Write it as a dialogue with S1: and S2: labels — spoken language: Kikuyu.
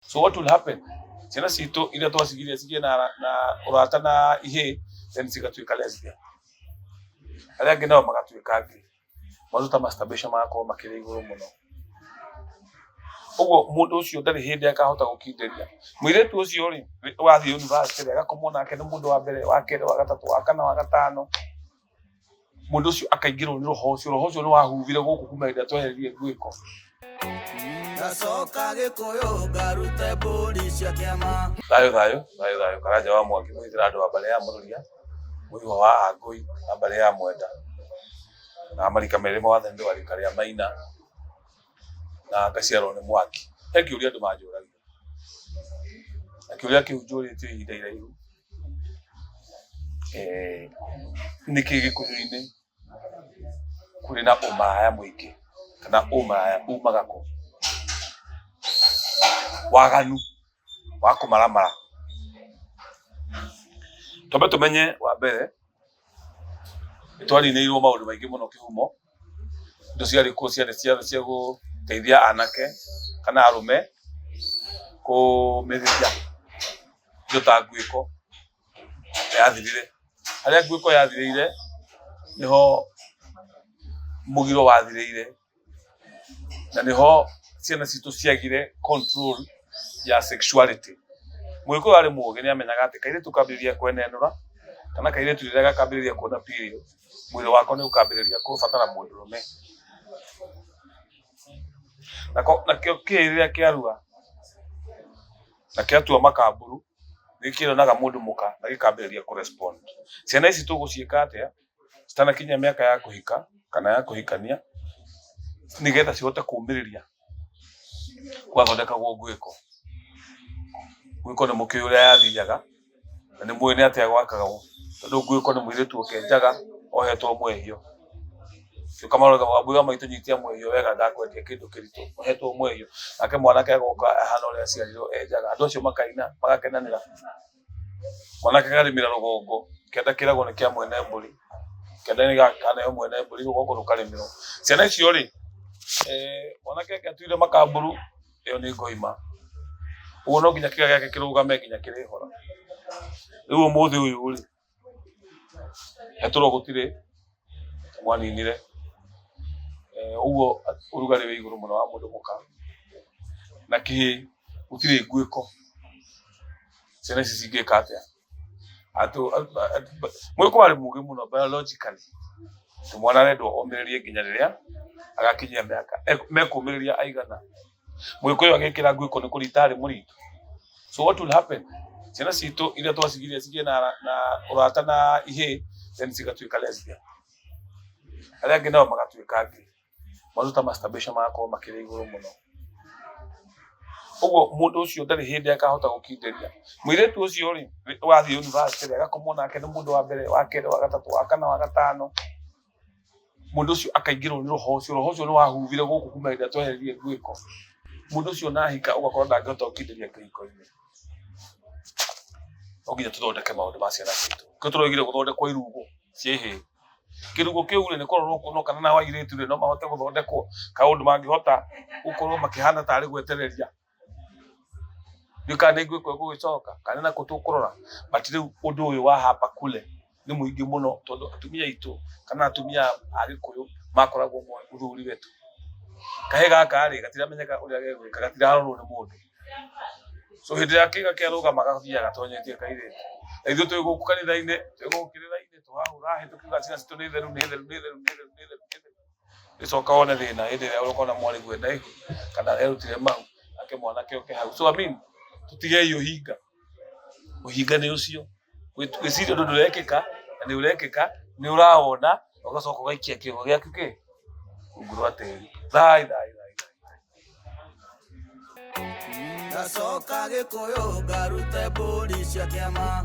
S1: So what will happen? Ciana citũ iria twacigire cigĩe na, na ũrata na ihĩĩ then cigatuĩka lesbian. Arĩa angĩ nao magatuĩka ngĩ. Maũndũ ta masturbation magakorwo makĩrĩ igũrũ mũno. Ũguo mũndũ ũcio ndarĩ hĩndĩ akahota gũkindĩria. Mũirĩtu ũcio rĩ, wathiĩ university rĩ, agakomwo nake nĩ mũndũ wa mbere, wa kerĩ, wa gatatũ, wa kana, wa gatano. mundu ucio akaingirwo ni roho ucio roho ucio ni wahuvire guku kuma hĩndĩ ĩrĩa twehererie ngwĩko Gacoka
S2: gĩkũyũ ngarute mbũri cia kĩama thayo thayo thayo thayo
S1: karanja wa mwaki mwithira andu a mbare ya mururia muiwa wa angui na mbare ya mwenda na marika merĩ mothe nĩ rika rĩa maina na ngaciarwo nĩ mwaki he kĩũria andũ manjũragia akĩũria kĩu njũrĩte ihinda iraihu eh, nĩkĩ gĩkũyũ-inĩ kũrĩ na ũmaraya mũingĩ kana ũmaraya umaga kũ waganu wa kũmaramara twambe tũmenye wa mbere nĩ twarinĩirwo maũndũ maingĩ mũno kĩhumo indo ciarĩ kuo ciarĩ cia cia gũteithia anake kana arũme kũmĩrĩria indo ta nguĩko yathirire. Harĩa nguĩko yathirĩire nĩho mũgiro wathirĩire na nĩho ciana citũ ciagire control ya sexuality. Mũgĩkũyũ arĩ mũgĩ nĩ amenyaga atĩ kairĩtu kambĩrĩria kwenenũra kana kairĩtu rĩrĩa gakambĩrĩria kuona period mwĩrĩ wakwa nĩ ũkambĩrĩria kũbatara mũndũrũme Nako- nakĩo kĩ rĩrĩa kĩarua na kĩatua makamburu nĩ kĩonaga mũndũ mũka na gĩkambĩrĩria kũrespond ciana ici tũgũciĩka atĩa citanakinya mĩaka ya kũhika kana ya kũhikania nĩgetha cihote kũmĩrĩria gwathondekagwo ngwĩko ngwĩko nĩ mũkĩũĩ ũrĩa yathiaga na nĩ mũĩ nĩ atĩa gwakagwo tondũ ngũĩ ko nĩ mũirĩtu ũkenjaga ohetwo mwehio gĩũka marore wambui wa maitũ nyitia mwehio wega ndakwendia kĩndũ kĩritũ ohetwo mwehio nake mwanake agoka ahana ũrĩa aciarirwo enjaga andũ acio makaina magakenanĩra mwanake akarĩmĩra rũgongo kĩanda kĩragwo nĩ kĩa mwene mbũri kĩanda nĩ gakanayo mwene mbũri rũgongo rũkarĩmĩrwo ciana icio rĩ eh, mwanake ake atuire makamburu ĩyo nĩ ngoima ũguo no nginya kĩga gĩake kĩrũgame nginya kĩrĩhora rĩu ũmũthĩ ũyũ rĩ etũrwo gũtirĩ mwaninire Eh, ũguo ũrugarĩ wĩ igũrũ mũno wa mũndũ mũka na kĩhĩ gũtirĩ nguĩko ciana ici cingĩka atĩa Atu- atu- atu- mũgĩkorwo arĩ mũgĩ mũno biologically tũ mwana arendwo omĩrĩrie nginya rĩrĩa agakinyia mĩaka e- mekũmĩrĩria aigana mũgĩkũyũ agĩkĩra nguĩko nĩ kũrita arĩ mũritũ so what will happen ciana citũ iria twacigiria cigĩe na, na ũrata na ihĩ then cigatuĩka lesbian arĩa angĩ nao magatuĩka angĩ maũndũ ta masturbation magakorwo makĩrĩ igũrũ mũno ũguo mũndũ ũcio ndarĩ hĩndĩ akahota gũkindĩria mũirĩtu ũcio rĩ wathiĩ university rĩ agakomwo nake nĩ mũndũ wa mbere wa kerĩ wa gatatũ wa kana wa gatano mũndũ ũcio akaingĩrwo nĩ roho ũcio roho ũcio nĩ wahuvire gũkũ kuma hĩndĩ ĩrĩa twehererie ngwĩko mũndũ ũcio nahika ũgakorwo ndangĩhota gũkindĩria kĩhiko-inĩ no nginya tũthondeke maũndũ ma ciana citũ kĩo tũraugire gũthondekwo irungu ciĩhĩ kĩrugũ kĩu rĩ nĩ kũrorwo kuonwo kana na airĩtu rĩ no mahote gũthondekwo kaũndũ mangĩhota gũkorwo makĩhana tarĩ gwetereria ndiũ kana nĩ ngwĩkwo gũgĩcoka kana na kũtũkũrora but rĩu ũndũ ũyũ wa hapa kule nĩ mũingĩ mũno tondũ atumia aitũ kana atumia a gĩkũyũ makoragwo moĩ mũthuri wetu kahĩ gaka rĩ gatiramenyeka ũrĩa gegwĩka gatirarorwo nĩ mũndũ so hĩndĩ ĩrĩa kĩga kĩarũgama gathiaga gatonyetie kairĩtu na ithuĩ twĩ gũkũ kanitha-inĩ twĩ gũkũ kĩrĩra-inĩ gĩcoka wone thĩna hĩndĩ ĩrĩa ũkona mwarĩgu enda ihu kana erutire mau nake mwanake oke hau so amin tũtigei ũhinga ũhinga nĩ ũcio gwĩciria ũndũ ndũrekĩka na nĩ ũrekĩka nĩ ũrawona ũgacoka ũgaikia kĩongo gĩaku kĩ rungu rwa tĩri thai thai ndacoka gĩkũyũ
S2: ngarute mbũri cia kĩama